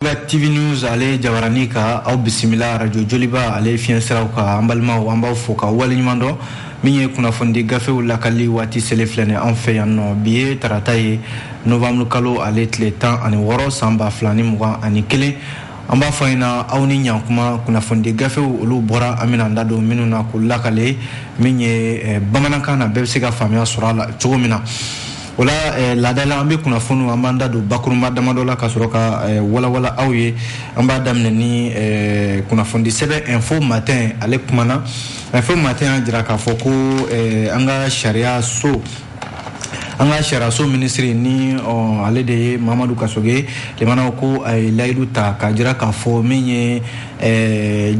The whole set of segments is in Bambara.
ba TV News ale jabarani kan aw bisimila radio joliba ale fiɲɛ siraw kan an balimaw an b'aw fo ka wale ɲuman dɔn min ye kunnafoni gafew lakali waati sele filɛ ni an fɛ yan nɔ bi ye tarata ye novembre kalo ale tile tan ani wɔɔrɔ san ba fila ni mugan ani kelen an b'a fɔ ɲɛna aw ni ɲankuma kunnafoni gafew olu bɔra an bɛna an da don minnu na k'u lakale min ye eh, bamanankan na bɛɛ bɛ se ka faamuya sɔrɔ a la cogo min na o la eh, laada la an bɛ kunnafoniw an b'an da don bakurunba damadɔ la ka sɔrɔ ka eh, walawala aw ye an b'a daminɛ ni eh, kunnafonidi sɛbɛn info matin ale kumana info matin y'a jira k'a fɔ ko an ka sariya so an ka sariyaso minisiri ni ale de ye mahamadu kasoge lamɛnnaw ko a ye layidu ta k'a jira k'a fɔ min ye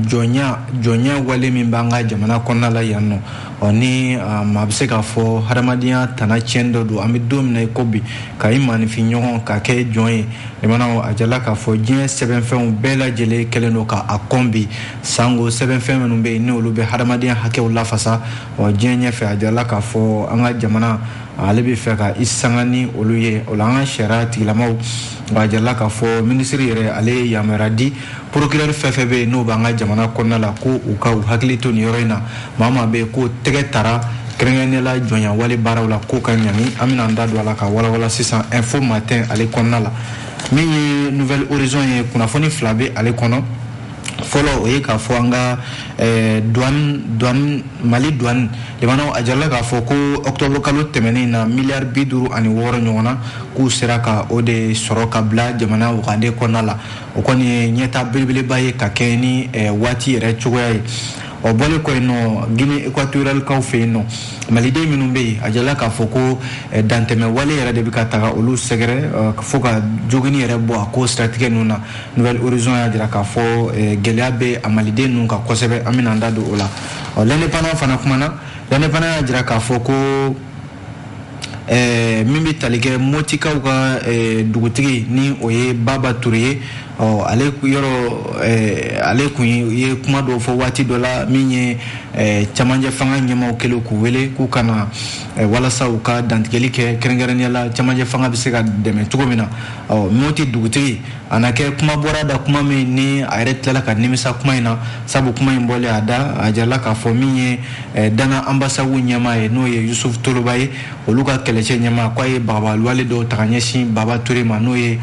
jɔnya jɔnya wale min b'an ka jamana kɔnɔna la yan nɔ ɔ ni maa bɛ se k'a fɔ hadamadenya tana tiɲɛni dɔ don an bɛ don min na i ko bi ka i maaninfin ɲɔgɔn ka kɛ jɔn ye lamɛnnaw a jala k'a fɔ diɲɛ sɛbɛnfɛnw bɛɛ lajɛlen kɛlen don ka a kɔn bi sango sɛbɛnfɛn minnu bɛ yen n'olu bɛ hadamadenya hakɛw lafasa ɔ diɲɛ ɲɛfɛ a jala k'a fɔ an ka jamana ale bɛ fɛ ka i sanga ni olu ye o la an ka sariya tigilamaw a jarala k'a fɔ minisiri yɛrɛ ale ye yamaruya di porokirɛri fɛn fɛn bɛ yen n'o b'an ka jamana kɔnɔna la ko u ka u hakili to nin yɔrɔ in na maa maa bɛ k'o tɛgɛ tara kɛrɛnkɛrɛnnenya la jɔnyawale baaraw la k'o ka ɲangi an bɛna an da don a la ka walawala sisan info matin ale kɔnɔna la min ye nouvel horizon ye kunnafoni fila bɛ ale kɔnɔ fɔlɔ o ye k'a fɔ an ka eh, douane douane mali douane lamɛnnaw a jarala k'a fɔ ko ɔktɔburu kalo tɛmɛnen na miliyari bi duuru ani wɔɔrɔ ɲɔgɔnna k'u sera ka o de sɔrɔ ka bila jamana wagande kɔnɔna la o kɔni ye ɲɛtaa belebeleba ye ka kɛ ni eh, waati yɛrɛ cogoya ye o bɔlen kɔ yen nɔ guinée équatorialkaw fɛ yen nɔ maliden minnu bɛ yen a jala k'a fɔ ko eh, dantɛmɛ wale yɛrɛ de bɛ ka taga olu sɛgɛrɛ eh, fo ka joginni yɛrɛ bɔ a ko siratigɛ ninnu na nouvel horizon y'a jira k'a fɔ eh, gɛlɛya bɛ a maliden ninnu kan kosɛbɛ an bɛna an da don o la ɔ l'indépendant fana kumana l'indépendant y'a jira k'a fɔ ko eh, min bɛ tali kɛ motikaw ka eh, dugutigi ni o ye baba ture ye ɔ ale yɔrɔ eh, ale kun ye kuma dɔw fɔ waati dɔ la min ye eh, cɛmancɛ fanga ɲɛmaaw kɛlen k'u wele k'u ka na eh, walasa u ka dantigɛli kɛ kɛrɛnkɛrɛnnenya la cɛmancɛ fanga bɛ se ka dɛmɛ cogo min na ɔ moti dugutigi a na kɛ kuma bɔra a da kuma min ni a yɛrɛ tilala ka nimisa kuma in na sabu kuma in bɔlen a da a jarala k'a fɔ min ye eh, dana anbasagu ɲɛmaa ye n'o ye yusuf toloba ye olu ka kɛlɛcɛ ɲɛmaa k'a ye bagabagali wale dɔw ta ka ɲɛsin baba ture ma n'o ye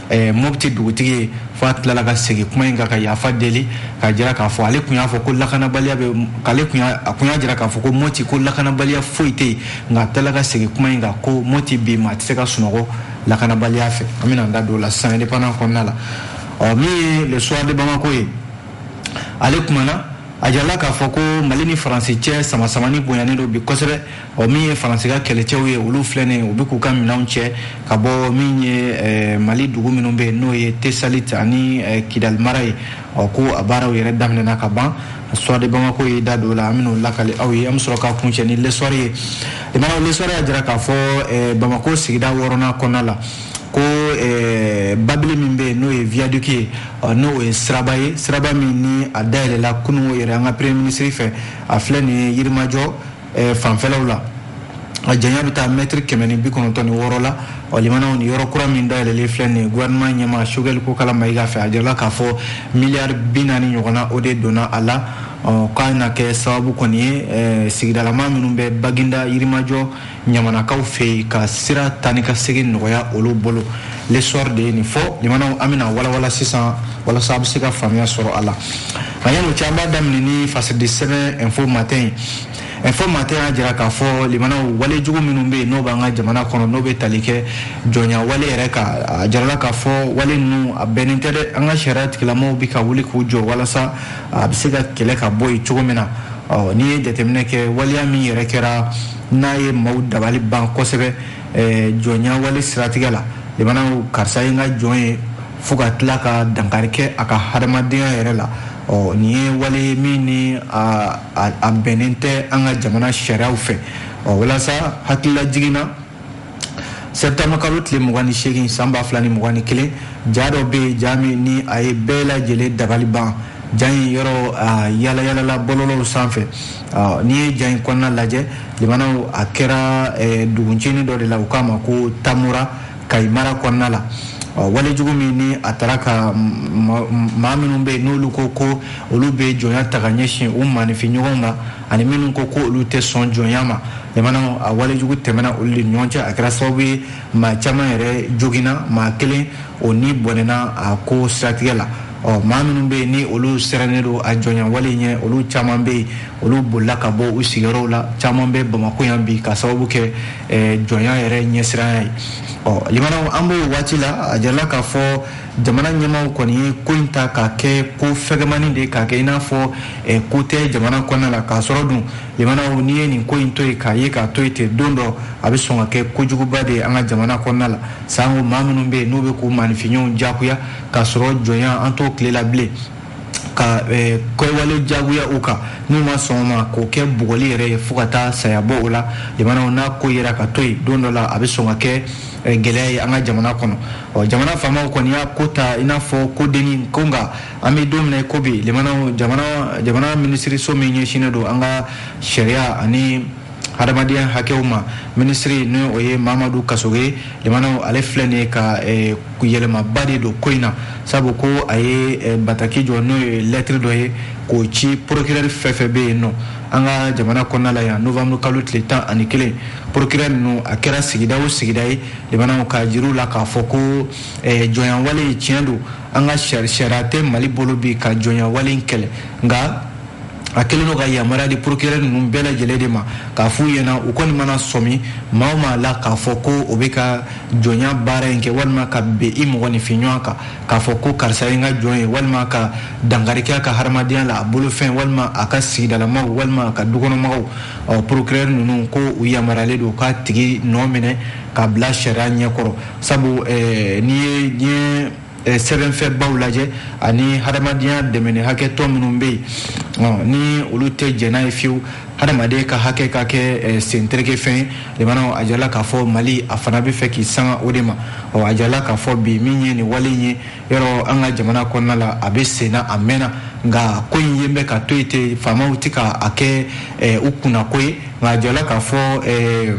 eh, mɔpti dugutigi ye fo a tilala ka segin kuma in kan ka yafa deli ka jira k'a fɔ ale tun y'a fɔ ko lakanabaliya bɛ k'ale tun y'a a kun y'a jira k'a fɔ ko mɔti ko lakanabaliya foyi tɛ yen nka a tilala ka segin kuma in kan ko mɔti bi maa tɛ se ka sunɔgɔ lakanabaliya fɛ an bɛna an da don o la sisan indépendant kɔnɔna la ɔ min ye le soir de Bamako ye ale kumana a jirala k'a fɔ ko mali ni faransi cɛ samasamani bonyanen don bi kosɛbɛ ɔ min ye faransi ka kɛlɛcɛw ye olu filɛnen u bɛ k'u ka minɛnw cɛ ka bɔ min ye eh, mali dugu minnu bɛ yen n'o ye tesalit ani eh, kidali mara ye ɔ ko a baaraw yɛrɛ daminɛna ka ban soir de bamako ye da don o la an bɛn'o lakali aw ye an bɛ sɔrɔ ka kuncɛ ni l'Essor ye limanaw l'Essor y'a jira k'a fɔ eh, bamako sigida wɔɔrɔnan kɔnɔna la ko eh, babili min bɛ yen n'o ye viaduc ye n'o ye siraba ye siraba min ni a dayɛlɛla kunun yɛrɛ an ka premier ministre fɛ a filɛ nin ye yirimajɔ fanfɛlaw la a janya bɛ taa mɛtiri kɛmɛ ni bi kɔnɔntɔn ni wɔɔrɔ la ɔ limanaw nin yɔrɔ kura min dayɛlɛlen filɛ nin ye gouvernement ɲɛmaa sogɛli kokala mayiga fɛ a jirala k'a fɔ miliyari bi naani ɲɔgɔnna o de donna a la ɔ k'a na kɛ sababu kɔni ye eh, sigidalama minnu bɛ baginda yirimajɔ ɲamanakaw fɛ yen ka sira taa ni ka segin nɔgɔya olu bolo l'Essor de ye nin fɔ limanaw an bɛna walawala sisan walasa a bɛ se ka faamuya sɔrɔ a la Yanni o cɛ an b'a daminɛ ni fasidi sɛbɛn info matin ye info matin y'a jira k'a fɔ limanaw wale jugu minnu bɛ yen n'o b'an ka jamana kɔnɔ n'o bɛ tali kɛ jɔnya wale yɛrɛ kan a jarala k'a fɔ wale ninnu a bɛnnen tɛ dɛ an ka sariya tigilamaw bɛ ka wuli k'u jɔ walasa a bɛ se ka kɛlɛ ka bɔ yen cogo min na ɔ n'i ye jateminɛ kɛ waleya min yɛrɛ kɛra n'a ye maaw dabali ban kosɛbɛ jɔnya wale siratigɛ la limanaw karisa ye n ka jɔn ye fo ka tila ka dankari kɛ a ka hadamadenya yɛrɛ la ɔ nin ye wale ye min ni a bɛnnen tɛ an ka jamana sariyaw fɛ ɔ walasa hakililajigin na sɛbitama kalo tile mugan ni seegin san ba fila ni mugan ni kelen ja dɔ bɛ yen ja min ni a ye bɛɛ lajɛlen dabali ban ja in yɔrɔ yalayalala bɔlɔlɔw sanfɛ n'i ye ja in kɔnɔna lajɛ limanaw a kɛra dugu ncinin dɔ de la u k'a ma ko tomora kayi mara kɔnɔna la wale jugu min ni a taara ka maa minnu bɛ yen n'olu ko ko olu bɛ jɔnya ta ka ɲɛsin u maaninfin ɲɔgɔnw ma ani minnu ko ko olu tɛ sɔn jɔnya ma limanaw a wale jugu tɛmɛna olu de ɲɔgɔn cɛ a kɛra sababu ye maa caman yɛrɛ joginna maa kelen o ni bɔnɛna a ko siratigɛ la ɔ maa minnu bɛ yen ni olu sirannen don a jɔnyawale ɲɛ olu caman bɛ yen olu bolila ka bɔ u sigiyɔrɔw la caman bɛ bamakɔ yan bi ka sababu kɛ eh, jɔnya yɛrɛ ɲɛsiranya ye ɔ limanaw an b'o waati la a jarala k'a fɔ jamana ɲɛmaaw kɔni ye ko in ta k'a kɛ ko fɛgɛmani de k'a kɛ i n'a fɔ eh, ko tɛ jamana kɔnɔna la k'a sɔrɔ dun limanaw n'i ye nin ko in to yen k'a ye k'a to yen ten don dɔ a bɛ sɔn ka kɛ kojuguba de ye an ka jamana kɔnɔna la sanko maa minnu bɛ yen n'u bɛ k'u maaninfin ɲɔgɔnw jagoya k'a sɔrɔ jɔnya an t'o tile la bilen ka eh, kɛwale jagoya u kan n'u ma sɔn ma k'o kɛ bugɔli yɛrɛ ye fo ka taa saya bɔ o la limanaw n'a ko yera ka to yen don dɔ la a bɛ sɔn ka kɛ eh, gɛlɛya ye an ka jamana kɔnɔ ɔ jamana faamaw kɔni y'a ko ta i n'a fɔ ko denni ko nka an bɛ don min na ko bi limanaw jamana minisiriso min ɲɛsinnen don an ka sariya ani hadamadenya hakɛw ma minisiri ni o ye mamadu kasoge limanaw ale filɛ nin ye ka eh, yɛlɛmaba de don ko in na sabu ko a ye eh, bataki jɔ n'o ye lɛtiri dɔ ye k'o ci porokirɛri fɛn fɛn bɛ yen nɔ an ka jamana kɔnɔna la yan novamuru kalo tile tan ani kelen porokirɛ ninnu a kɛra sigida o sigida ye limanaw k'a jira u la k'a fɔ ko eh, jɔnyawale ye tiɲɛ don an ka sariya tɛ mali bolo bi ka jɔnyawale kɛlɛ nka a kelen don ka yamaruya di porokirɛ ninnu bɛɛ lajɛlen de ma k'a f'u ɲɛna u kɔni mana sɔmi maa o maa la k'a fɔ ko o bɛ ka jɔnya baara in kɛ walima ka bin i mɔgɔninfin ɲɔgɔn kan k'a fɔ ko karisa ye n ka jɔn ye walima ka dankari kɛ a ka hadamadenya la a bolofɛn walima a ka sigidalamaaw walima a ka dukɔnɔmɔgɔw ɔ porokirɛ ninnu ko u yamaruyalen don k'a tigi nɔ minɛ k'a bila sariya ɲɛkɔrɔ sabu eh, n'i ye diɲɛ Eh, sɛbɛnfɛnbaw lajɛ ani hadamadenya dɛmɛni hakɛ tɔn minnu bɛ yen ni olu tɛ jɛn n'a ye fiyewu hadamaden ka hakɛ ka kɛ eh, sentereke fɛn ye limanaw a jirala k'a fɔ mali a fana bɛ fɛ k'i sanga o de ma ɔ a jirala k'a fɔ bi min ye nin wale in ye yɔrɔ an ka jamana kɔnɔna la a bɛ senna a mɛnna nka ko in ye bɛ ka to yen ten faamaw tɛ ka a kɛ eh, u kunnako ye nka a jirala k'a fɔ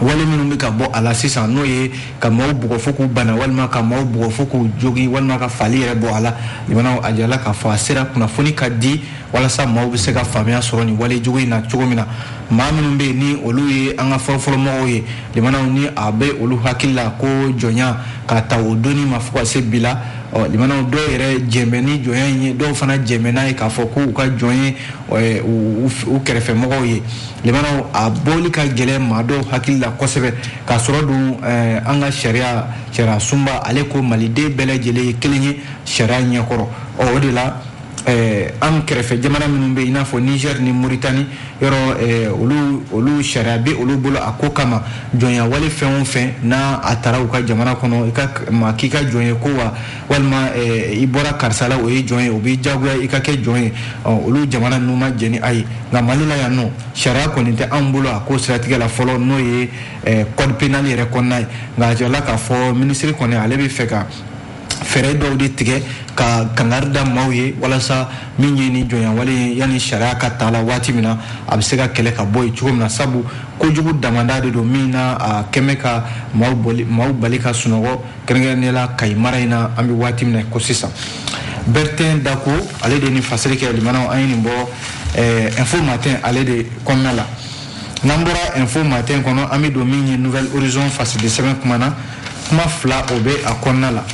wale minnu bɛ ka bɔ a la sisan n'o ye ka maaw bugɔ fo k'u bana walima ka maaw bugɔ fo k'u jogin walima ka faali yɛrɛ bɔ a la limanaw a jirala k'a fɔ a sera kunnafoni ka di walasa maaw bɛ se ka faamuya sɔrɔ nin wale jugu in na cogo min na maa minnu bɛ yen ni olu ye an ka fɔlɔfɔlɔmɔgɔw ye limanaw ni a bɛ olu hakili la ko jɔnya k'a ta o donni ma fo ka se bi la ɔ limanaw dɔw yɛrɛ jɛnnen bɛ ni jɔnya in ye dɔw fana jɛnnen bɛ n'a ye k'a fɔ k'u ka jɔn ye u kɛrɛfɛmɔgɔw ye Limanaw a bɔli ka gɛlɛn maa dɔw hakili la kosɛbɛ k'a sɔrɔ dun eh, an ka sariya sariya sunba ale ko maliden bɛɛ lajɛlen ye kelen ye sariya ɲɛkɔrɔ ɔ o de la eh, an kɛrɛfɛ jamana minnu bɛ i n'a fɔ niger ni moritani yɔrɔ eh, olu olu sariya bɛ olu bolo a ko kama jɔnyawale fɛn o fɛn n'a a taara u ka jamana kɔnɔ i ka maa k'i ka jɔn ye ko wa walima eh, i bɔra karisa la o ye jɔn ye o b'i jagoya i ka kɛ jɔn ye olu jamana ninnu ma jɛn ni a ye nka mali la yan nɔ sariya kɔni tɛ anw bolo a ko siratigɛ la fɔlɔ n'o ye eh, code penal yɛrɛ kɔnɔna ye nka a jirala k'a fɔ minisiri kɔni ale bɛ fɛ ka fɛɛrɛ dɔw de tigɛ ka kangari da maaw ye walasa min ye ni jɔnyawale ye yanni sariya ka ta la waati min na a bɛ se ka kɛlɛ ka bɔ yen cogo min na sabu kojugu damada de don min na a kɛlen bɛ ka maaw bali ka sunɔgɔ kɛrɛnkɛrɛnnenya la kayi mara in na an bɛ waati min na ko sisan bertin dako ale de ni fasiri kɛ limanaw an ye nin bɔ eh, info matin ale de kɔnɔna la n'an bɔra info matin kɔnɔ an bɛ don min ye nouvel horizon fasidi sɛbɛn kuma na kuma fila o bɛ a kɔnɔna la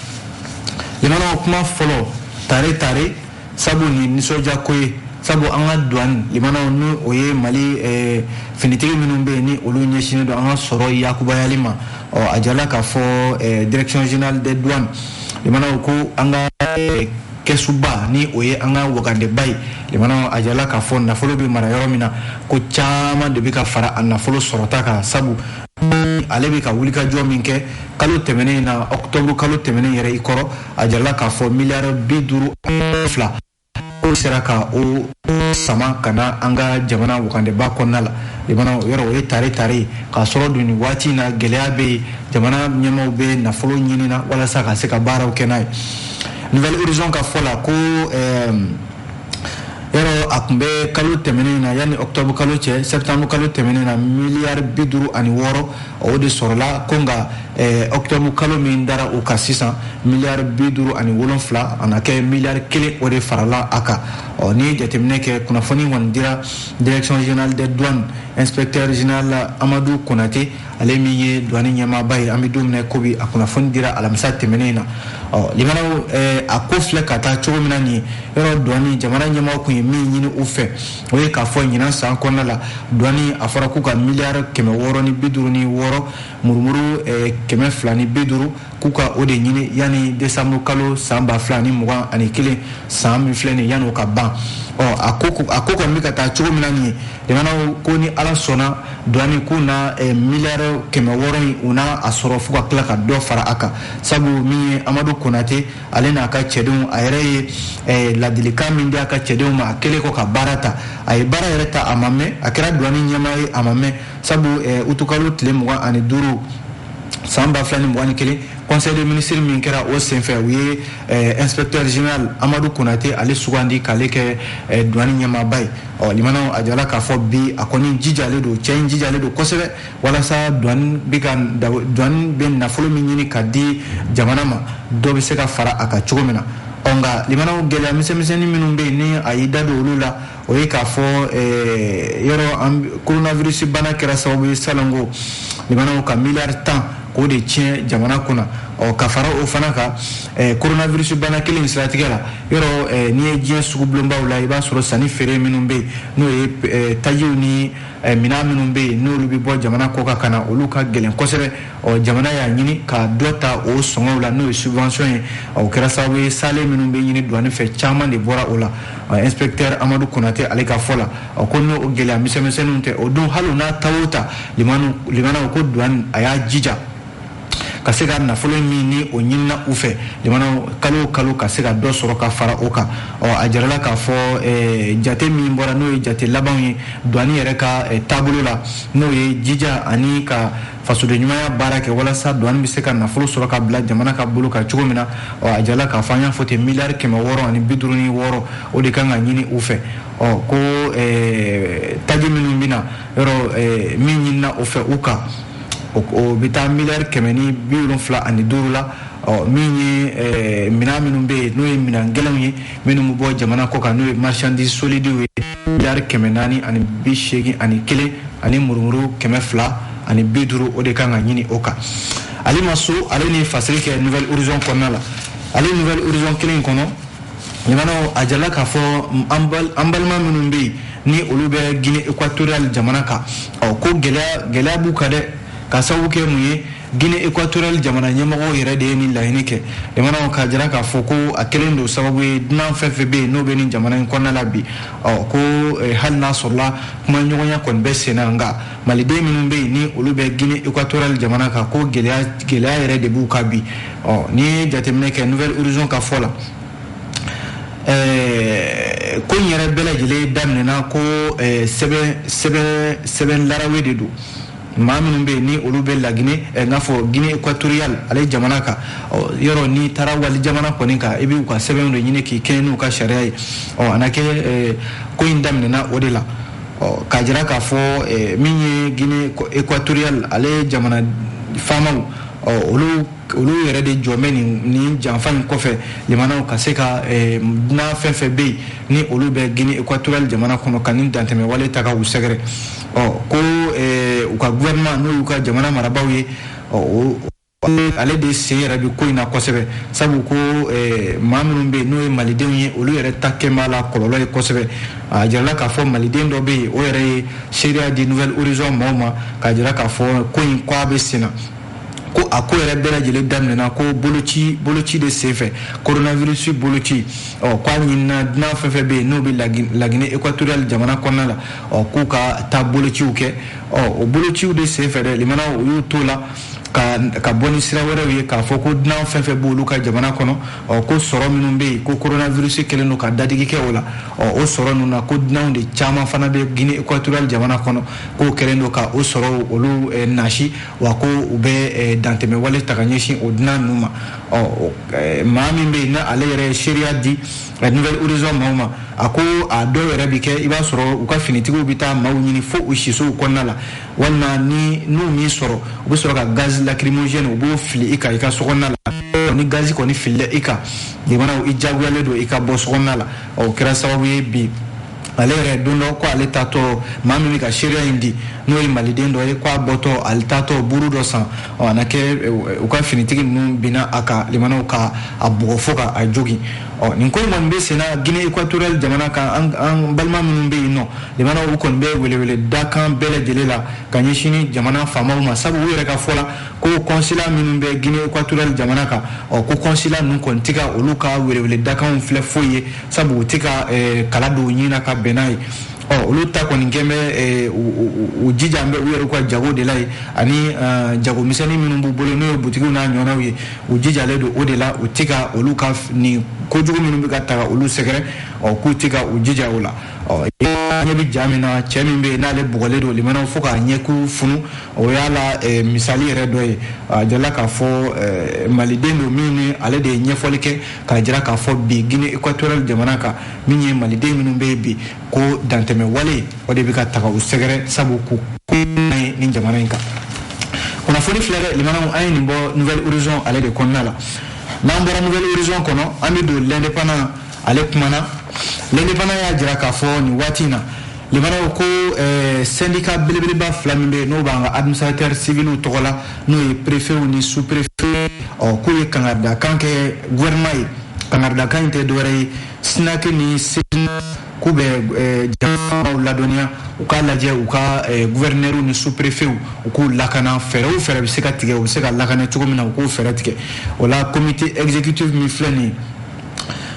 limanaw kuma fɔlɔ tare tare sabu nin nisɔndiya ko ye sabu an ka duwani limanaw ni o ye mali eh, finitigi minnu bɛ yen ni olu ɲɛsinnen don an ka sɔrɔ yakubayali ma ɔ a jala k'a fɔ eh, direction générale des douanes limanaw ko an ka eh, kɛsuba ni o ye an ka wagandeba ye limanaw a jala k'a fɔ nafolo bɛ mara yɔrɔ min na ko caman de bɛ ka fara a nafolo sɔrɔta kan sabu ale bɛ ka wulikajɔ min kɛ kalo tɛmɛnen in na ɔkutɔburu kalo tɛmɛnen yɛrɛ i kɔrɔ a jarala k'a fɔ miliyari bi duuru fila o sera ka o sama ka na an ka jamana wagandeba kɔnɔna la jamana yɔrɔ o ye tare tare ye k'a sɔrɔ dun nin waati in na gɛlɛya bɛ yen jamana ɲɛmaaw bɛ nafolo ɲini na walasa ka se ka baaraw kɛ n'a ye nouvel horizon ka fɔ la ko ɛɛ yɔrɔ a tun bɛ kalo tɛmɛnen na yanni octobre kalo cɛ septembre kalo tɛmɛnen na miliyari bi duuru ani wɔɔrɔ o de sɔrɔla ko nka eh, octobre kalo min dara o kan sisan miliyari bi duuru ani wolonfila a na kɛ miliyari kelen o de farala a kan ɔ n'i ye jateminɛ kɛ kunnafoni kɔni dira direction générale des douanes inspecteur général amadu konate ale min ye duwani ɲɛmaaba ye an bɛ don min na ko bi a kunnafoni dira alamisa tɛmɛnen na ɔ limanaw eh, a ko filɛ ka taa cogo min na nin ye yɔrɔ duwani jamana ɲɛmaaw tun ye min ɲini u fɛ o ye k'a fɔ ɲinan san kɔnɔna la duwani a fɔra k'u ka miliyari kɛmɛ wɔɔrɔ ni bi duuru ni wɔɔrɔ murumuru eh, kɛmɛ fila ni bi duuru k'u ka o de ɲini yanni desanburu kalo san ba fila ni mugan ani kelen san min filɛ nin yanni o ka ban ɔ a ko a ko kɔni bɛ ka taa cogo min na nin ye limanaw ko ni ala sɔnna duwani k'u na eh, miliyari kɛmɛ wɔɔrɔ in u na a sɔrɔ fo ka tila ka dɔ fara a kan sabu min ye amadu konate ale n'a ka cɛdenw a yɛrɛ ye eh, ladilikan min di a ka cɛdenw ma a kɛlen kɔ ka baara ta a ye baara yɛrɛ ta a ma mɛn a kɛra duwani ɲɛmaa ye a ma mɛn sabu eh, utukalo tile mugan ani duuru san ba fila ni mugan ni kelen conseil des ministres min kɛra o senfɛ u ye eh, inspecteur général amadu konate ale sugandi k'ale kɛ eh, duwani ɲɛmaaba ye ɔ limanaw a jala k'a fɔ bi a kɔni jijalen don cɛ in jijalen don kosɛbɛ walasa duwani bɛ ka duwani bɛ nafolo min ɲini ka di jamana ma dɔ bɛ se ka fara a kan cogo min na ɔ nka limanaw gɛlɛya misɛnmisɛnnin minnu bɛ yen ni a y'i da don olu la o ye k'a fɔ eh, yɔrɔ coronavirus bana kɛra sababu ye salon ko limanaw ka miliyari tan k'o de tiɲɛ jamana kunna ɔ ka fara o fana kan eh, coronavirus bana kelen in siratigɛ la yɔrɔ eh, n'i ye diɲɛ sugu bulonbaw la i b'a sɔrɔ sanni feere minnu bɛ yen n'o ye tajiw ni minɛn minnu bɛ yen n'olu bɛ bɔ jamana kɔ kan ka na olu ka gɛlɛn kosɛbɛ ɔ jamana y'a ɲini ka dɔ ta o sɔngɔw la n'o ye subvention ye o kɛra sababu ye salen minnu bɛ ɲini duwani fɛ caman de bɔra o la inspecteur amadu konate ale ka fɔ la ɔ ko n'o gɛlɛya misɛnmisɛnninw tɛ o don hali n'a ta o ta lamɛnnaw ko duwani a y'a jija ka se ka nafolo min ni o ɲinina u fɛ lamɛnnaw kalo o kalo ka se ka dɔ sɔrɔ ka fara o kan ɔ a jirala k'a fɔ eh, jate min bɔra n'o ye jate labanw ye duwani yɛrɛ ka eh, taabolo la n'o ye jija ani ka fasoden ɲumanya baara kɛ walasa duwani bɛ se ka nafolo sɔrɔ ka bila jamana ka bolo kan cogo min na ɔ a jirala k'a fɔ an y'a fɔ ten miliyari kɛmɛ wɔɔrɔ ani bi duuru ni wɔɔrɔ o de kan ka ɲini u fɛ ɔ ko eh, taji minnu bɛ na yɔrɔ eh, min ɲinina o fɛ u kan o bɛ taa miliyari kɛmɛ ni bi wolonfila ani duuru la ɔ min ye eh, minɛn minnu bɛ yen n'o ye minɛn gɛlɛnw ye minnu bɛ bɔ jamana kɔ kan n'o ye marchandise solidiw ye miliyari kɛmɛ naani ani bi seegin ani kelen ani murumuru kɛmɛ fila ani bi duuru o de kan ka ɲini o kan ale ma so ale ni fasiri kɛ nouvel horizon kɔnɔna la ale nouvel horizon kelen kɔnɔ lamɛnnaw a jirala k'a fɔ an balima minnu bɛ yen ni olu bɛ guinée équatoriale jamana kan ɔ ko gɛlɛya gɛlɛya b'u kan dɛ ka sababu kɛ mun ye guinée équatoriale jamana ɲɛmɔgɔw yɛrɛ de ye nin laɲini kɛ lamɛnnaw k'a jira k'a fɔ ko a kelen don sababu ye dunan fɛn fɛn bɛ yen n'o bɛ nin jamana in kɔnɔna la bi ɔ ko eh, hali n'a sɔrɔla kuma ɲɔgɔnya kɔni bɛ sen na nka maliden minnu bɛ yen ni olu bɛ guinée équatoriale jamana kan ko gɛlɛya gɛlɛya yɛrɛ de b'u kan bi ɔ n'i ye jateminɛ kɛ nouvel horizon ka fɔ la eh, ko in yɛrɛ bɛɛ lajɛlen daminɛna ko eh, sɛbɛn sɛbɛn sɛbɛn larawe de don maa minnu bɛ yen ni olu bɛ lagine eh, n'a fɔ guinee equatoriale ale jamana kan yɔrɔ n'i taara wali jamana kɔni kan i b'u ka sɛbɛnw de ɲini k'i kɛɲɛ n'u ka sariya ye ɔ a na kɛ eh, ko in daminɛna o de la ɔ k'a jira k'a fɔ eh, min ye guinee equatoriale ale jamana faamaw ɔ olu olu yɛrɛ de jɔlen bɛ nin nin janfa in kɔfɛ lamɛnnaw ka se ka dunan fɛn fɛn bɛ yen ni olu bɛ guinee equatoriale jamana kɔnɔ ka nin dantɛmɛ wale ta ka u sɛgɛrɛ ɔ ko u ka gouvernement n'o y'u ka jamana marabaaw ye ɔ ale de sen yɛrɛ bi ko in na kosɛbɛ sabu ko maa minnu bɛ yen n'o ye malidenw ye olu yɛrɛ ta kɛ b'a la kɔlɔlɔ ye kosɛbɛ a jirala k'a fɔ maliden dɔ bɛ yen o yɛrɛ ye seereya di nouvel horizon maaw ma k'a jira k'a fɔ ko in ko a bɛ sen na ko a ko yɛrɛ bɛɛ lajɛlen daminɛna ko boloci boloci de senfɛ coronavirus boloci ɔ k'a ɲinina dunan fɛn fɛn bɛ yen n'o bɛ lagine equatoriale jamana kɔnɔna la ɔ k'u ka taa bolociw kɛ ɔ o bolociw de sen fɛ dɛ limanaw u y'u t'o la ka ka bɔ ni sira wɛrɛw ye k'a fɔ ko dunan fɛn fɛn b'olu ka jamana kɔnɔ ɔ ko sɔrɔ minnu bɛ yen ko coronavirus kɛlen don ka dadigi kɛ o la ɔ o sɔrɔ ninnu na ko dunanw de caman fana bɛ Guinée équatoriale jamana kɔnɔ k'o kɛlen don ka o sɔrɔw olu eh, nagasi wa ko u bɛ eh, dantɛmɛwale ta ka ɲɛsin o dunan ninnu ma ɔ eh, maa min bɛ yen n'ale yɛrɛ ye seereya di la nouvel horizon maaw ma a ko a dɔw yɛrɛ bɛ kɛ i b'a sɔrɔ u ka finitigiw bɛ taa maaw ɲini fo u sisow kɔnɔna la walima ni n'u m'i sɔrɔ u bɛ sɔrɔ ka gaz lacrymogène u b'o fili i kan i ka so kɔnɔna la ni gazi kɔni filila i kan jamanaw i jagoyalen don i ka bɔ so kɔnɔna la o kɛra sababu ye bi ale yɛrɛ don dɔ ko ale taatɔ maa min bɛ ka seereya in di n'o ye maliden dɔ ye ko a bɔtɔ ale taatɔ buru dɔ san ɔ a na kɛ eh, u ka finitigi ninnu binna a kan limanaw ka a bugɔ fo ka a jogin ɔ nin ko in kɔni bɛ senna Guinée équatoriale jamana kan an balima minnu bɛ yen nɔ limanaw u kɔni bɛ welewele dakan bɛɛ lajɛlen la ka ɲɛsin jamana faamaw ma sabu u yɛrɛ ka fɔ la ko consulat minnu bɛ Guinée équatoriale jamana kan ɔ ko consulat ninnu kɔni tɛ ka olu ka welewele dakanw filɛ foyi ye sabu u tɛ ka eh, kala don u ɲin na ka bɛn n'a ye ɔ oh, olu ta kɔni kɛlen bɛ eh, u jijalen bɛ u yɛrɛw ka jago de la ye ani eh, jago misɛnnin minnu b'u bolo n'o ye butikiw n'a ɲɔgɔnnaw ye u jijalen don o de la u tɛ ka olu ka nin kojugu minnu bɛ ka taga olu sɛgɛrɛ ɔ oh, k'u tɛ ka u jija o la ɔ oh, ɲɛ bɛ ja min na cɛ min bɛ yen n'ale bugɔlen don limanaw fo k'a ɲɛkun funu o y'a la eh, misali yɛrɛ dɔ ye a jirala k'a fɔ maliden don min ni ale de ye ɲɛfɔli kɛ k'a jira k'a fɔ bi Guinée équatoriale jamana kan min ye maliden minnu bɛ yen bi ko dantɛmɛ wale o de bɛ ka taga u sɛgɛrɛ sabu k'u ko ye nin jamana in kan kunnafoni filɛ dɛ limanaw an ye nin bɔ nouvel horizon ale de kɔnɔna la n'an bɔra nouvel horizon kɔnɔ an bɛ don l'indépendant ale kumana l'indépendant y'a jira k'a fɔ nin waati in na Limanaw ko syndicat belebeleba fila min bɛ n'o b'an ka administrateur civilw tɔgɔ la n'o ye préfetw ni sous-préfet ɔ k'u ye kankaridakan kɛ gouvernement ye kankaridakan in tɛ dɔwɛrɛ ye SYNAC ni se k'u bɛ jamanaw ladɔnniya u k'a lajɛ u ka gouverneurw ni sous-préfetw u k'u lakana fɛɛrɛ o fɛɛrɛ bɛ se ka tigɛ u bɛ se ka lakana cogo min na u k'u fɛɛrɛ tigɛ o la comité exécutif min filɛ nin ye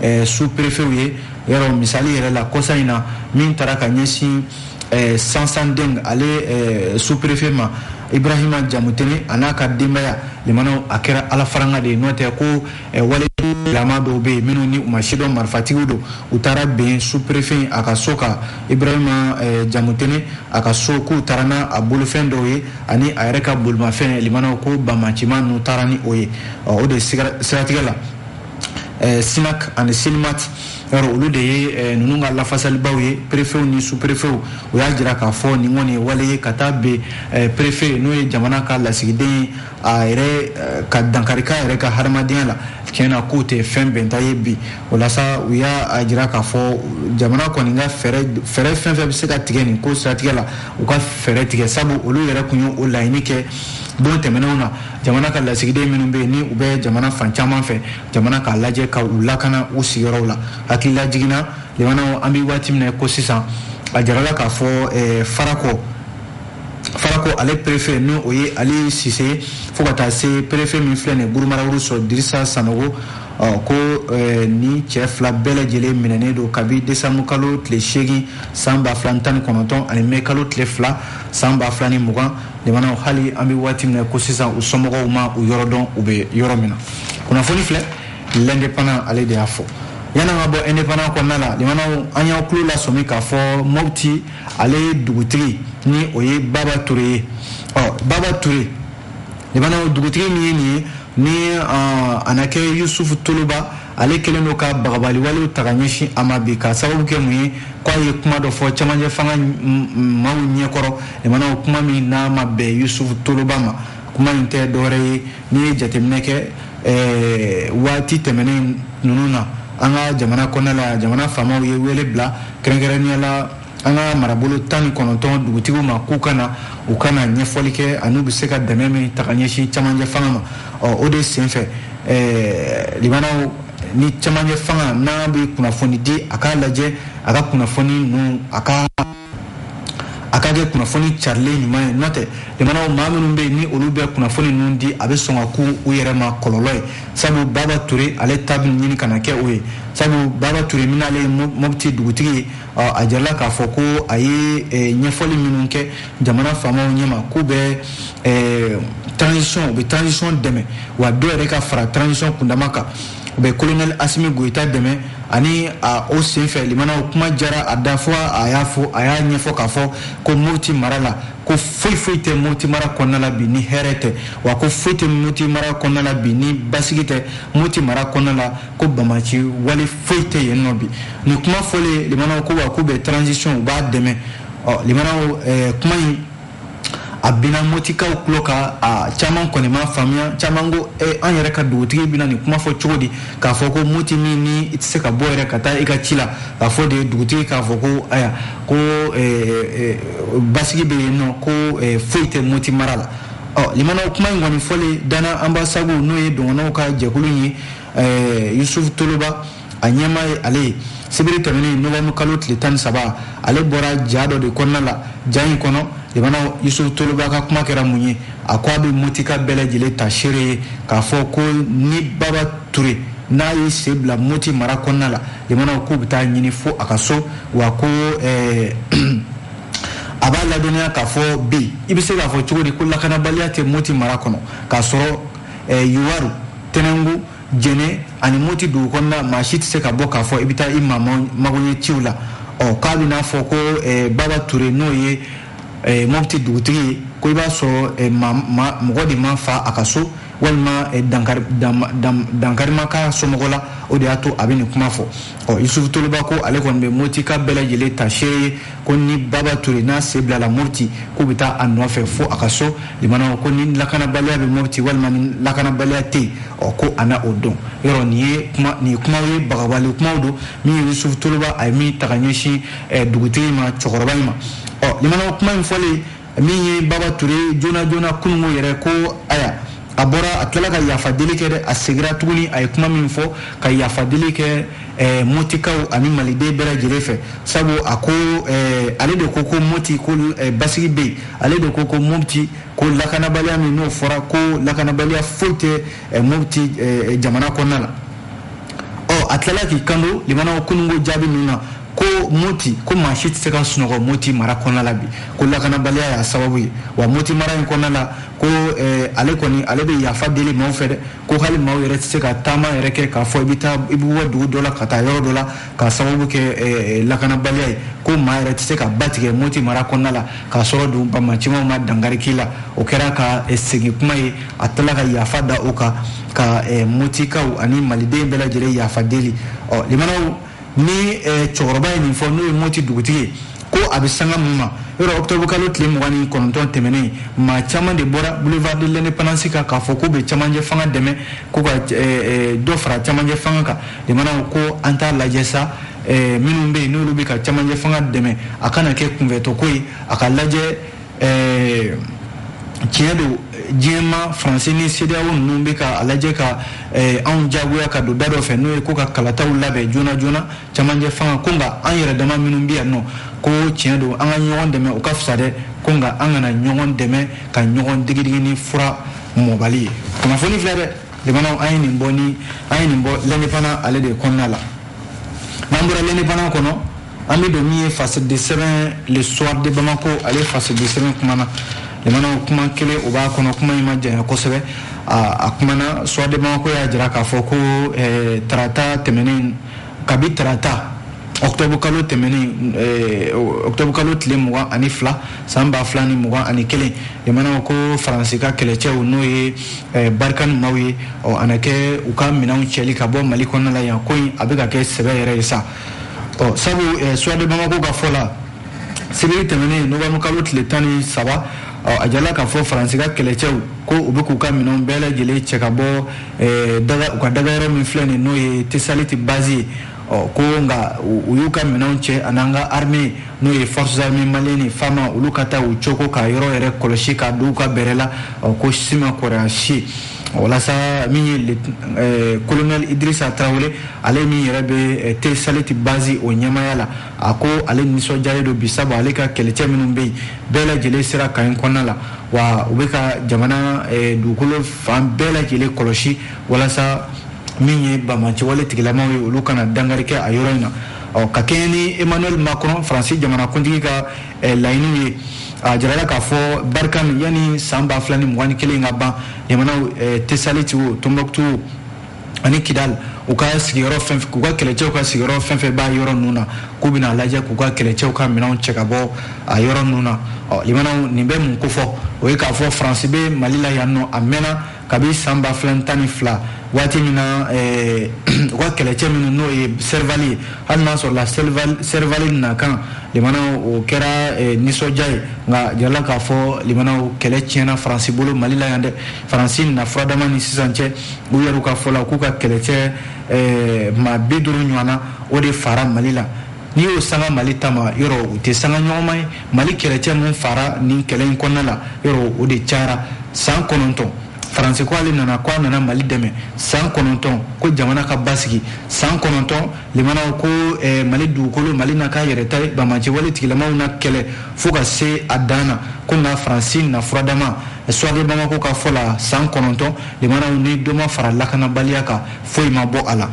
eh, sous-préfetw ye yɔrɔ misali yɛrɛ la kɔsa in na min tara ka ɲɛsin eh, sansanding ale eh, sous-préfet ma ibrahima jamutene a n'a ka denbaya limanaw a kɛra ala faranga de ye n'o tɛ ko eh, wale lama dɔw bɛ yen minnu ni u ma sidɔn marifatigiw don u taara bin sous-préfet a ka so kan ibrahima eh, jamutene a ka so k'u taara n'a a bolofɛn dɔw ye ani a yɛrɛ ka bolimafɛn limanaw ko banbaganci maa ninnu taara ni o ye o de siratigɛ la eh, sinak ani silimat yɔrɔ olu de ye eh, ninnu ka lafasalibaw ye perefew ni su perefew u y'a jira k'a fɔ nin kɔni ye wale ye ka taa bɛn eh, perefe n'o ye jamana ka lasigiden ye a yɛrɛ ka dankari k'a yɛrɛ ka hadamadenya la tiɲɛ na k'o tɛ fɛn bɛnta ye bi o la sa u y'a jira k'a fɔ jamana kɔni ka fɛɛrɛ fɛɛrɛ fɛn fɛn bɛ se ka tigɛ nin ko siratigɛ la u ka fɛɛrɛ tigɛ sabu olu yɛrɛ tun ye o laɲini kɛ don tɛmɛnenw na jamana ka lasigiden minnu bɛ yen ni u bɛ jamana fan caman fɛ jamana k'a lajɛ ka u lakana u sigiyɔrɔw la hakililajigin na limanaw an bɛ waati min na ko sisan a jarala k'a fɔ eh, farako farako ale perefe n'o ye ali sise fo ka taa se perefe min filɛ nin guruma rarus yɔrɔ dirisa sanogo ko eh, nin cɛ fila bɛɛ lajɛlen minɛnen don kabi desanburu kalo tile seegin san ba fila ni tan ni kɔnɔntɔn ani mɛ kalo tile fila san ba fila ni mugan limanaw hali an bɛ waati min na ko sisan u somɔgɔw ma u yɔrɔ dɔn u bɛ yɔrɔ min na kunnafoni filɛ l'indépendant ale de y'a fɔ yan an ka bɔ indépendant kɔnɔna la limanaw an y'aw tulo lasɔmi k'a fɔ mopti ale ye dugutigi ni o ye baba ture ye ɔ baba ture limanaw dugutigi min ye nin ye ni uh, a na kɛ yusufu toloba ale kɛlen don ka bagabali walew ta ka ɲɛsin a ma bi k'a sababu kɛ mun ye k'a ye kuma dɔ fɔ cɛmancɛ fanga maaw ɲɛkɔrɔ limanaw kuma min n'a ma bɛn yusufu toloba ma kuma in tɛ dɔwɛrɛ ye n'i ye jateminɛ kɛ eh, waati tɛmɛnen ninnu na an ka jamana kɔnɔna la jamana faamaw ye wele bila kɛrɛnkɛrɛnnenya la an ka marabolo tan ni kɔnɔntɔn dugutigiw ma k'u ka na u ka na ɲɛfɔli kɛ an'u bɛ se ka dɛmɛ min ta ka ɲɛsin camancɛ fanga ma ɔ o de senfɛ ɛɛ limanaw ni camancɛ fanga n'a bɛ kunnafoni di a k'a lajɛ a ka kunnafoni ninnu a ka a ka kɛ kunnafoni carilen ɲuman ye nɔtɛ limanaw maa minnu bɛ yen ni olu bɛ kunnafoni ninnu di a bɛ sɔn ka kɛ u yɛrɛ ma kɔlɔlɔ ye sabu baba ture ale ta bɛ ɲini ka na kɛ o ye sabu baba ture min n'ale ye mɔpti dugutigi ye a jarala k'a fɔ ko a ye ɲɛfɔli minnu kɛ jamana faamaw ɲɛma k'u bɛ transition u bɛ transition dɛmɛ wa dɔ yɛrɛ ka fara transition kundama kan u bɛ colonel Asimi Goyita dɛmɛ ani a o senfɛ limanaw kuma jara a da fo a y'a fɔ a y'a ɲɛfɔ k'a fɔ ko Mopti mara la ko foyi foyi tɛ Mopti mara kɔnɔna la bi ni hɛrɛ tɛ wa ko foyi tɛ Mopti mara kɔnɔna la bi ni basigi tɛ Mopti mara kɔnɔna la ko banbaanci wale foyi tɛ yen nɔ bi nin kuma fɔlen limanaw ko wa k'u bɛ transition u b'a dɛmɛ ɔ limanaw eh, kuma in a binna motikaw tulo kan a caman kɔni m'a faamuya caman ko eh, an yɛrɛ ka dugutigi bina nin kuma fɔ cogo di k'a fɔ ko moti min ni i tɛ se ka bɔ yɛrɛ ka taa i ka ci la k'a fɔ de dugutigi k'a fɔ ko aya ko eh, eh, basigi bɛ yen nɔ ko eh, foyi tɛ moti mara la ɔ limanaw kuma in kɔni fɔlen dana anbasagu n'o ye dɔgɔnɔw ka jɛkulu ye ɛɛ yusufu toloba a ɲɛmaa ye ale ye sibiri tɛmɛnen novembre kalo tile tan ni saba ale bɔra ja dɔ de kɔnɔna la ja in kɔnɔ limana yusufu toloba ka kuma kɛra mun ye a ko a bɛ motika bɛɛ lajɛlen ta seere ye k'a fɔ ko ni baba ture n'a ye sen bila moti mara kɔnɔna la limana k'u bɛ taa a ɲini fo a ka so wa ko ɛɛ a b'a ladɔnniya k'a fɔ bi i bɛ se k'a fɔ cogo di ko lakanabaliya tɛ moti mara kɔnɔ k'a sɔrɔ eh, yuwaru tɛnɛngu jɛnɛ ani moti dugu kɔnɔna maa si tɛ se ka bɔ k'a fɔ i bɛ taa i maa magoɲɛ ciw la ɔ k'a bɛ n'a fɔ ko eh, baba ture n'o ye eh, mɔpti dugutigi ye ko i b'a sɔrɔ eh, mɔgɔ de ma fa a ka so walima eh, dankari ma k'a somɔgɔ la o de y'a to a bɛ nin kuma fɔ ɔ yusufu toloba ko ale kɔni bɛ motika bɛɛ lajɛlen ta seere ye ko ni baba ture n'a sen bilala moti k'u bɛ taa a nɔfɛ fo a ka so limanaw ko ni lakanabaliya bɛ moti walima ni lakanabaliya tɛ yen ɔ ko a na o dɔn yɔrɔ nin ye kuma nin ye kumaw ye bagabagali kumaw don min ye yusufu toloba a ye min ta ka ɲɛsin dugutigi ma cɛkɔrɔba in ma ɔ limanaw kuma in fɔlen min ye baba ture joona joona kununko yɛrɛ ko aya a bɔra a tilala ka yafa deli kɛ dɛ a segira tuguni a ye kuma min fɔ ka yafa deli kɛ eh, motikaw ani maliden bɛɛ lajɛlen fɛ sabu a ko eh, ale de ko ko moti ko eh, basigi bɛ yen ale de ko ko mopti ko lakanabaliya min n'o fɔra ko lakanabaliya foyi tɛ eh, mopti eh, jamana kɔnɔna la ɔ a tilala k'i kanto limanaw kununko jaabi ninnu na ko moti ko maa si tɛ se ka sunɔgɔ moti mara kɔnɔna la bi ko lakanabaliya y'a sababu ye wa moti mara in kɔnɔna la ko eh, ale kɔni ale bɛ yafa deli maaw fɛ dɛ ko hali maaw yɛrɛ tɛ se ka taama yɛrɛ kɛ k'a fɔ i bɛ taa i bɛ bɔ dugu dɔ la ka taa yɔrɔ dɔ la k'a sababu kɛ eh, eh, lakanabaliya ye ko maa yɛrɛ tɛ se ka ba tigɛ moti mara kɔnɔna la k'a sɔrɔ dun banbaanci maaw ma dankari k'i la o kɛra ka eh, segin kuma ye a tilala ka yafa da o kan ka eh, motikaw ani maliden bɛɛ lajɛlen yafa deli ɔ limanaw ni cɛkɔrɔba ye nin fɔ n'o ye moti dugutigi ye ko a bɛ sanga min ma yɔrɔ octobre kalo tile mugan ni kɔnɔntɔn tɛmɛnen maa caman de bɔra boulevard de l'indépendance kan k'a fɔ k'u bɛ cɛmancɛ fanga dɛmɛ ko ka dɔ fara cɛmancɛ fanga kan limanaw ko an t'a lajɛ sa minnu bɛ yen n'olu bɛ ka cɛmancɛ fanga dɛmɛ a kana kɛ kunfɛtɔko ye a ka lajɛ ɛɛ tiɲɛ don diɲɛmaa faransi ni sedeyawo ninnu bɛ ka a lajɛ ka eh, anw jagoya ka don da dɔ fɛ n'o ye ko ka kalataw labɛn joona joona camancɛ fanga ko nka an yɛrɛ dama minnu bɛ yan nɔ ko tiɲɛ don an ka ɲɔgɔn dɛmɛ o ka fisa dɛ ko nka an kana ɲɔgɔn dɛmɛ ka ɲɔgɔn digidigi ni fura mɔbali ye kunnafoni filɛ dɛ limanaw an ye nin bɔ ni an ye nin bɔ l'indépendant ale de kɔnɔna la n'an bɔra l'indépendant kɔnɔ an bɛ don min ye fasidi sɛbɛn le soir de bamako ale fasidi sɛbɛn kumana limanaw kuma kelen o b'a kɔnɔ kuma in ma janya kosɛbɛ a kumana soir de bamako y'a jira k'a fɔ ko eh, tarata tɛmɛnen kabi tarata octobre kalo tɛmɛnen eh, octobre kalo tile mugan ani fila san ba fila ni mugan ani kelen limanaw ko faransi ka kɛlɛcɛw n'o ye eh, barikani maaw ye ɔ a na kɛ u ka minɛnw cɛli ka bɔ mali kɔnɔna la yan ko in a bɛ ka kɛ sɛbɛ yɛrɛ ye sa ɔ sabu eh, soir de bamako ka fɔ la sibiri tɛmɛnen novembre kalo tile tan ni saba a jirala k'a fɔ faransi ka kɛlɛcɛw ko u bɛ k'u ka minɛnw bɛɛ lajɛlen cɛ ka bɔ eh, u ka dagayɔrɔ min filɛ nin n'o ye tesaliti bazi ye ɔ ko nka u y'u ka minɛnw cɛ an'an ka arme n'o ye forces armées maliennes ni fama olu ka taa u coko ka yɔrɔ yɛrɛ kɔlɔsi ka don u ka bɛrɛ la ɔ ko si ma kɔrɔya si walasa min ye eh, kolonɛl idrisa tarawele ale min yɛrɛ bɛ eh, tesaliti bazi o ɲɛmaya la a ko ale nisɔndiyalen don bi sabu ale ka kɛlɛcɛ minnu bɛ yen bɛɛ lajɛlen sera kan in kɔnɔna la wa u bɛ ka jamana eh, dugukolo fan bɛɛ lajɛlen kɔlɔsi walasa min ye banbaanci wale tigilamaw ye olu kana dankari kɛ a yɔrɔ in na ɔ ka kɛɲɛ ni emmanuel macron faransi jamanakuntigi ka Eh, laɲiniw ye a jirala k'a fɔ barikani yanni san ba fila ni mugan ni kelen ka ban limanaw eh, tesaliti o tombouctou ani kidal u ka sigiyɔrɔ fɛn k'u ka kɛlɛcɛw ka sigiyɔrɔ fɛn fɛn b'a yɔrɔ ninnu na k'u bɛna lajɛ k'u ka kɛlɛcɛw ka minɛnw cɛ ka bɔ a yɔrɔ ninnu na ɔ limanaw nin bɛ mun kofɔ o ye k'a fɔ faransi bɛ mali la yan nɔ a mɛnna kabi san ba fila tan ni fila waati min na eh, u ka kɛlɛcɛ minnu n'o ye serivali ye hali n'a sɔrɔla serivali nakan limanaw o kɛra eh, nisɔndiya ye nka jirala k'a fɔ limanaw kɛlɛ tiɲɛna faransi bolo mali la yan dɛ faransi na furadama ni sisan cɛ u yɛrɛw ka fɔ la k'u ka kɛlɛcɛ eh, maa bi duuru ɲɔgɔnna o de fara mali la n'i y'o sanga mali ta ma yɔrɔ u tɛ sanga ɲɔgɔnma ye mali kɛlɛcɛ min fara nin kɛlɛ in kɔnɔna la yɔrɔ o de cayara san kɔnɔntɔn faransi ko ale nana ko a nana mali dɛmɛ san kɔnɔntɔn ko jamana ka basigi san kɔnɔntɔn limanaw ko eh, mali dugukolo mali na k'a yɛrɛ ta ye banbaanci wale tigilamaw na kɛlɛ fo ka se a dan na ko nka faransi na furadama soir de bamako ka fɔ la san kɔnɔntɔn limanaw ni dɔ ma fara lakanabaliya kan foyi ma bɔ a la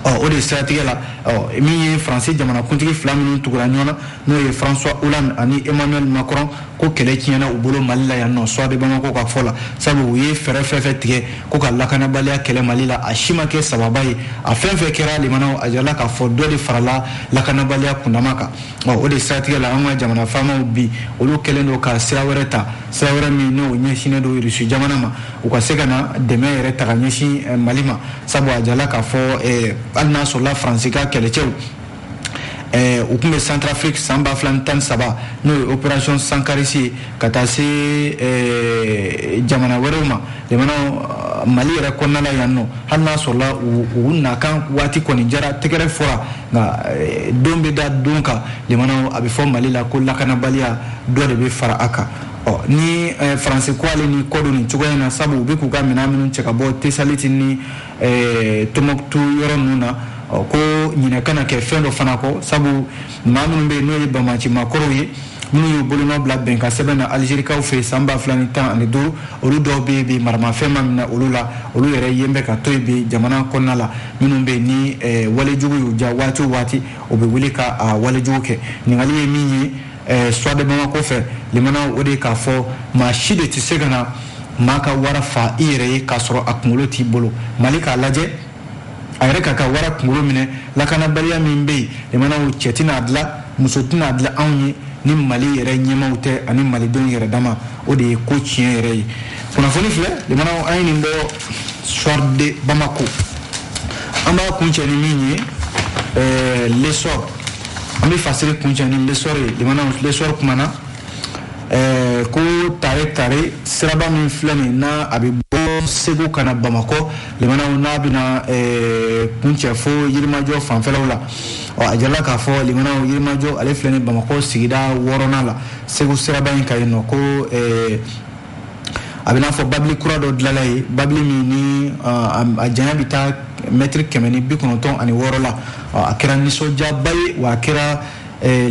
ɔ o de siratigɛ la ɔ min ye faransi jamanakuntigi fila minnu tugura ɲɔgɔn na n'o ye françois hollande ani emmanuel macron ko kɛlɛ tiɲɛna u bolo mali la yan nɔ soir de bamako ka fɔ la sabu u ye fɛɛrɛ fɛn fɛn tigɛ ko ka lakanabaliya kɛlɛ mali la a si ma kɛ sababa ye a fɛn fɛn kɛra limanaw a jirala k'a fɔ dɔ de farala lakanabaliya kundama kan ɔ o de siratigɛ la an ka jamana faamaw bi olu kɛlen don ka sira wɛrɛ ta sira wɛrɛ min n'o ɲɛsinnen don irisi jamana ma u ka se ka na dɛmɛ yɛrɛ ta ka ɲɛsin eh, mali ma sabu a jala k'a fɔ eh, hali n'a sɔrɔla faransi ka kɛlɛcɛw eh, u tun bɛ centrafrique san ba fila ni tan ni saba n'o ye opération sankarisi ye ka taa se jamana wɛrɛw ma jamana mali yɛrɛ kɔnɔna la yan nɔ hali n'a sɔrɔla u nakan waati kɔni diyara tɛgɛrɛ fɔra nka eh, don bɛ da don kan limanaw a bɛ fɔ mali la ko lakanabaliya dɔ de bɛ fara a kan ɔ ni eh, faransi ko ale ni kɔdon nin cogoya in na sabu u bɛ k'u ka minɛn minnu cɛ ka bɔ tesaliti ni eh, tɔmbukutu yɔrɔ ninnu na ɔ ko ɲinɛ kana kɛ fɛn dɔ fana kɔ sabu maa minnu bɛ yen n'o ye banbaanci makɔrɔw ye minnu y'u bolonɔ bila bɛnkan sɛbɛn na alizerikaw fɛ yen san ba fila ni tan ani duuru olu dɔw bɛ yen bi maramafɛn ma minɛ olu la olu yɛrɛ yen bɛ ka to yen bi jamana kɔnɔna la minnu bɛ ni eh, walejugu y'u ja waati o waati o bɛ wuli ka ah, walejugu kɛ ɲininkali ye min ye eh, soir de bamako fɛ limanaw o de ye k'a fɔ maa si de tɛ se ka na maa ka wara fa i yɛrɛ ye k'a sɔrɔ a kunkolo t'i bolo mali k'a lajɛ a yɛrɛ k'a ka wara kunkolo minɛ lakanabaliya min bɛ yen limanaw cɛ tɛn'a dilan muso tɛn'a dilan anw ye ni mali yɛrɛ ɲɛmaw tɛ ani malidenw yɛrɛ dama o de ye ko tiɲɛ yɛrɛ ye kunnafoni filɛ limanaw an ye nin bɔ soir de bamako an b'a kuncɛ ni min ye ɛɛ lesɔr an bɛ fasiri kuncɛ ni lesɔr ye limanaw lesɔr kumana ɛɛ ko tare tare siraba min filɛ nin n'a a bɛ bɔ segu ka na bamakɔ limanaw n'a bɛna ɛɛ kuncɛ fo yirimajɔ fanfɛlaw la ɔ a jirala k'a fɔ limanaw yirimajɔ ale filɛ ni bamakɔ sigida wɔɔrɔnan la segu siraba in kan yen nɔ ko ɛɛ a bɛ n'a fɔ babili kura dɔ dilanna yen babili min ni a janya bɛ taa mɛtiri kɛmɛ ni bi kɔnɔntɔn ani wɔɔrɔ la a kɛra nisɔndiyaba ye wa a kɛra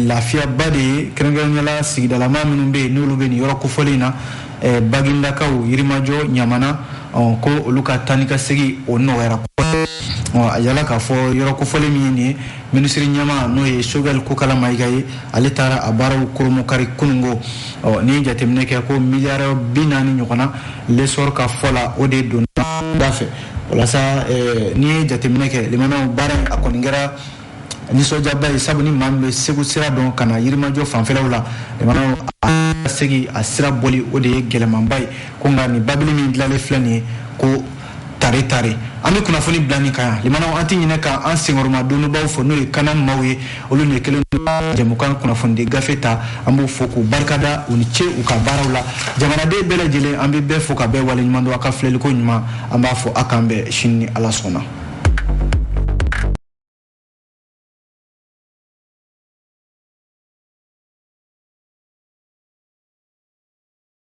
lafiyaba de ye kɛrɛnkɛrɛnnenya la sigidalama minnu bɛ yen n'olu bɛ nin yɔrɔ kofɔlen in na bagindakaw yirimajɔ ɲamana ko olu ka taa ni ka segin o nɔgɔyara a yala k'a fɔ yɔrɔ kofɔlen min ye nin ye minisiri ɲɛma n'o ye sogɛli kokala mayiga ye ale taara a baaraw kurunbonkari kunungo ɔ n'i ye jateminɛ kɛ ko miliyari bi naani ɲɔgɔnna lesɔr ka fɔ la o de donn'a dafɛ walasa eh, n'i ye jateminɛ kɛ limanaw baara a kɔni kɛra nisɔndiyaba ye sabu ni maa min bɛ segu sira dɔn ka na yirimajɔ fanfɛlaw la limanaw a segi a sira bɔli o de ye gɛlɛmanba ye ko nka nin babili min dilanlen filɛ nin ye ko tare tare an bɛ kunnafoni bila nin kan yan limanaw an tɛ ɲinɛ ka an senkɔrɔmadonbaaw fo n'o ye kanan maaw ye olu de kelen jɛmukan kunnafonidi gafe ta an b'u fo k'u barikada u ni ce u ka baaraw la jamanaden bɛɛ lajɛlen an bɛ bɛɛ fo ka bɛɛ waleɲuman dɔn a ka filɛliko ɲuman an b'a fɔ a k'an bɛn sini ni ala sɔnna